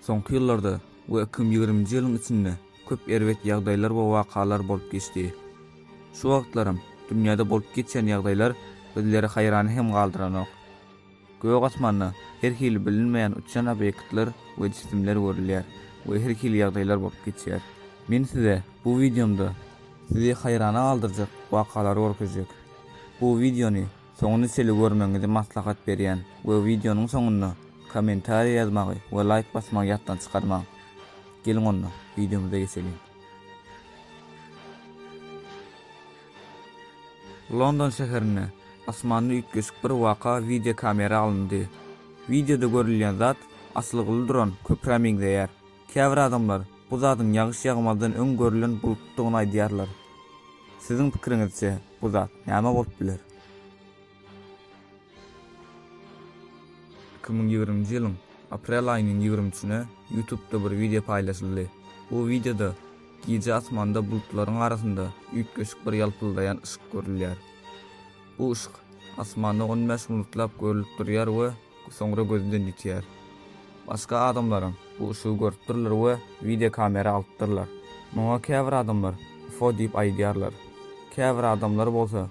Soňky ýyllarda we ikim ýigriminji ýylyň içinde köp erbet ýagdaýlar we wakalar bolup geçdi. Şu wagtlaram dünýäde bolup geçýän ýagdaýlar bizleri haýran hem galdyranok. Gök asmanda her hili bilinmeýän uçýan obýektler we jisimler görülýär we her hili ýagdaýlar bolup geçýär. Men size bu wideomda sizi haýrana galdyrjak wakalary görkezjek. Bu wideony soňuna çenli görmegiňizi maslahat berýän we wideonyň soňunda kommentariýa ýazmagy we laýk basmagy ýatdan çykarmaň. Geliň onda, wideomyza geçeliň. London şäherinde asmanda üýtgeşik bir waka wideokamera alyndy. Wideoda görülýän zat asylgyly duran köprä meňzeýär. Käbir adamlar bu zadyň ýagyş ýagmazdan öň görülen bulutdygyny aýdýarlar. Siziň pikiriňizçe, bu zat näme bolup biler? Iki müň ýigriminji ýylyň aprel aýynyň ýigrimi üçüne Ýutubda bir wideo paýlaşyldy. Bu wideoda gije asmanda bulutlaryň arasynda üýtgeşik bir ýalpyldaýan yşyk görülýär. Bu yşyk asmanda on bäş minutlap görlüp durýar we soňra gözden ýitýär. Başga adamlaram bu yşygy görüpdirler we wideo kamera alypdyrlar. Muňa käbir adamlar UFO diýip aýdýarlar. Käbir adamlar bolsa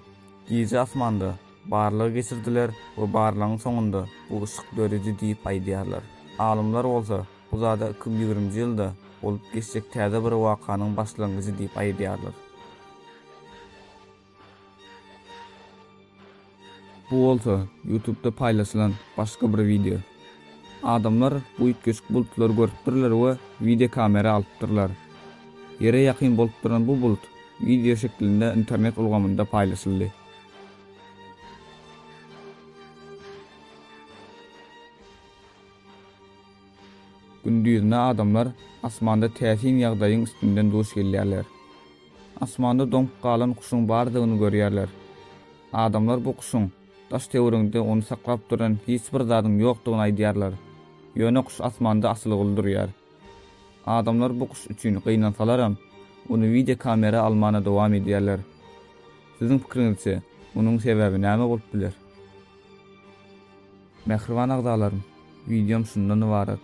Gije asmanda barlag geçirdiler we barlagyň soňunda bu yşyk döredi diýip aýdýarlar. Alymlar bolsa bu zada iki ýüz ýigrimji ýylda bolup geçjek täze bir wakanyň başlangyjy diýip aýdýarlar. Bu bolsa Ýutubda paýlaşylan başga bir wideo. Adamlar bu üýtgeşik bulutlary görüpdirler we wideokamera alypdyrlar. Ýere ýakyn bolup duran bu bulut wideo şeklinde internet ulgamynda paýlaşyldy. Gündizine adamlar asmanda täsin ýagdaýyň üstünden duş gelýärler. Asmanda doňup galan guşuň bardygyny görýärler. Adamlar bu guşuň Daş-töweregiňde ony saklap duran hiç bir zadyň ýokdugyny aýdýarlar. Ýöne guş asmanda asylguly durýar. Adamlar bu guş üçin gynansalaram, ony wideo kamera almana dowam edýärler. Siziň pikiriňizçe, munuň sebäbi näme bolup biler? Mähriban agzalarym, wideom şundan ybarat.